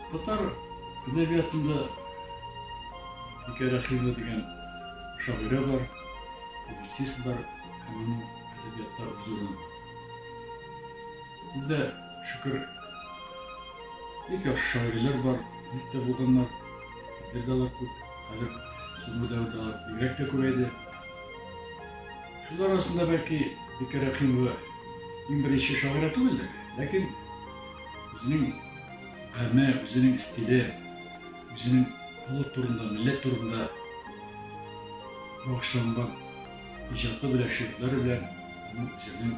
Татар әдәбиятында Бикә Рәхимова дигән шагыйрә бар, публицист бар, аның әдәбияттары зурланды. Бездә Шөкер. Бик яхшы шагыйрьләр бар, бик тә булганнар. Хәзер дә алар күп. Хәзер соңгы дәвердә алар бигрәк тә күбәйде. Шулар арасында бәлки Бикә Рәхимова иң беренче шагыйрә түгелдер, ләкин үзенең һәме, үзенең стиле, үзенең халык турында, милләт турында багышланган иҗаты белән, шигырьләре белән аның үзенең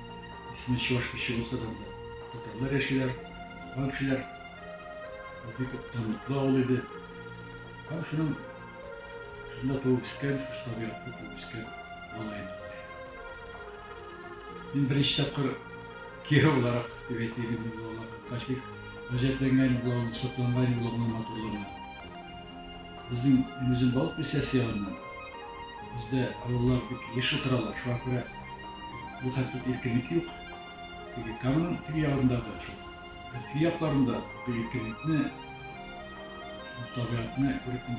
Исеме чуваш кеше булса да, татарлар яшиләр, туган кешеләр. Бик данлыклы авыл иде. Һәм шуның шунда туып үскән, шушы табигатта туып үскән малаем. Мин беренче тапкыр кияү буларак дип әйтелгән булган. Качбик гаҗәпләнгән булган, сокланган булган матурлыгына. Безнең Энезем балык присясе ягыннан бездә авыллар бик еш утыралар, шуңа күрә бу хәтле иркенлек юк. Теге Камның теге ягындагы шул Өфке якларында бу иркенлекне, бу табигатьне күреп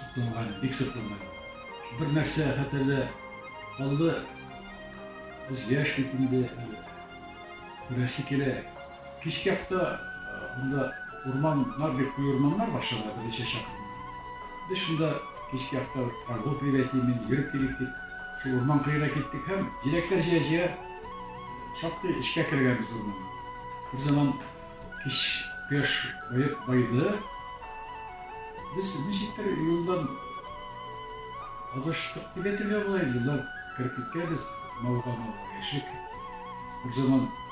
сокланган, бик сокланган. Бер нәрсә хәтәрдә калды, без яшь бит инде, күрәсе килә, Кичке якта монда урманнар бик куе урманнар бар шунда берничә чакрым. Без шунда кичке якта прогулка дип әйтим инде, йөреп килик дип, шул урман кыена киттек һәм җиләкләр җыя-җыя шактый эчкә кергәнбез урманга. Бер заман кич кояш баеп байды. Без ничектер юлдан адаштык дип әйтергә була инде, юлдан кереп киткәнбез, мавыга-мавыга яшик. Бер заман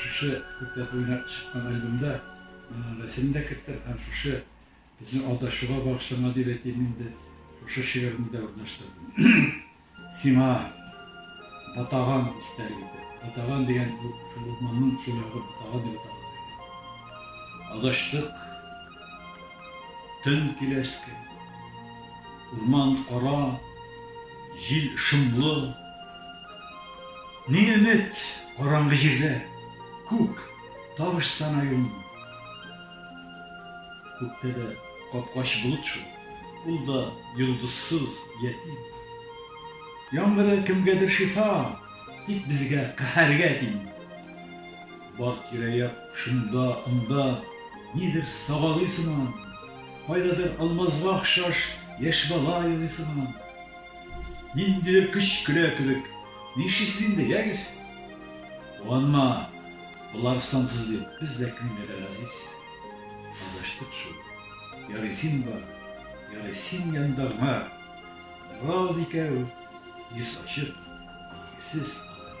Шушы күркәтеп уйнап чыккан альбомда рәсемен дә керттем һәм шушы безнең алдашуга багышланган дип әйтим инде, шушы шигыремне дә урнаштырдым. Сиңа Ботаган истәлек итеп. Ботаган дигән бу шул урманның шул ягы Ботаган дип атала. Адаштык. Төн киләчке. Урман кара, җил шомлы. Ни өмет, караңгы җирдә. Күк, тавыш сана юлны. Күктә дә капкач болыт шул. Ул да йолдызсыз, ятим. Яңгыры кемгәдер шифа, тик безгә каһәргә тиң. Бар тирә-як шунда, анда, нидер сагалый сыман, кайдадыр алмазга охшаш яшь бала елый сыман. Ниндидер көч көлә кебек, ни эшлисез инде, ягез! Куанма, болар сансыз бит, без дә кемгә дә газиз. Адаштык шул. Ярый син бар, ярый син янда гына бераз икәү, йөз ачып, икесез калыйк.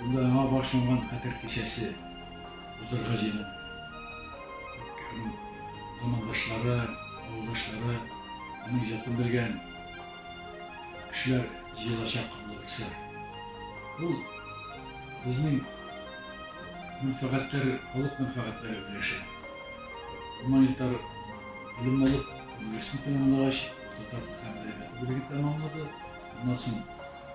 Бында яңа башланган Хәтер кичәсе узырга җыена. Замандашлары, авылдашлары, аның иҗатын белгән кешеләр җыелачак булса. Бу безнең мәнфәгатьләр, халык мәнфәгатьләре беләшә. Гуманитар белем алып, университет тәмамлагач, татар һәм әдәбияты бүлеген тәмамлады. Аннан соң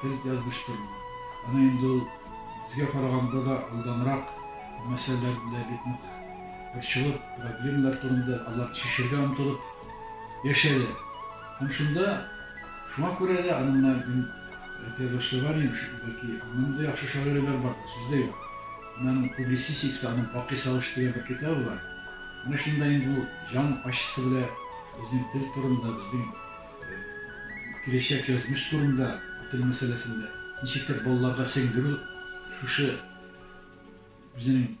Фәлит язмыштыр бу. Аны инде ул безгә караганда да алданрак мәсьәләләр белә бит нык борчылып, проблемалар турында аларны чишергә омтылып яшәде. Һәм шунда, шуңа күрә дә аны менә мин әйтә башлаган идем, бәлки аннан да яхшы шагыйрьләр бардыр, сүз дә юк. Менә аның публицистикасы, аның Бакый сагышы дигән бер китабы бар. Менә шунда инде ул җан ачысы белә безнең тел турында, безнең Киләчәк язмыш турында тел мәсьәләсен дә ничектер балаларга сеңдерү шушы үзенең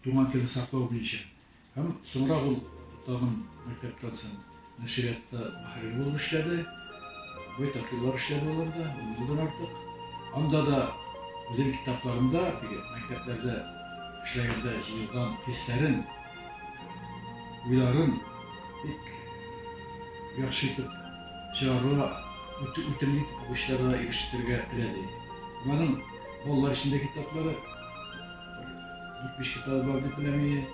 туган телен саклау буенча һәм соңрак ул тагын мәктәптән соң нәшриятта мөхәррир булып эшләде. Байтак еллар эшләде ул анда, ун елдан артык. Анда да үзенең китапларында теге мәктәпләрдә эшләгәндә җыелган хисләрен Уйларын бик яхшы итеп чыгарырга, үтемле итеп укучыларга ирештерергә теләде. Аларның балалар өчен дә китаплары, 70 китабы бар дип беләм иде.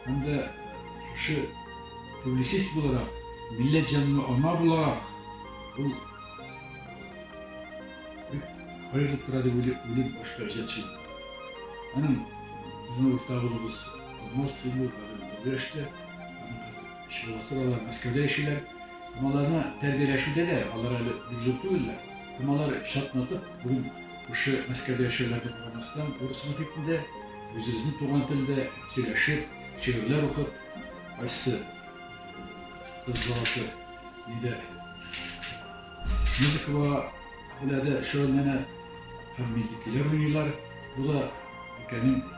Һәм дә шушы публицист буларак, милләт җанлы ана буларак, ул хәерле тора дип уйлыйм, башка иҗатчы. Аның безнең уртагыбыз. Морсине бирәштә чыгасы алар Мәскәүдә яшиләр. Маларны тәрбияләшүдә дә алар әле бик зур түгелләр. Малар чатнатып, бүген күрше Мәскәүдә яшәүләргә карамастан, урыс мохитендә, үзебезнең туган телдә сөйләшеп, шигырьләр укып, кайсы кыз баласы нидә музыка белән дә шөгыльләнә һәм мизгелләр уйныйлар. Бу да өлкәнең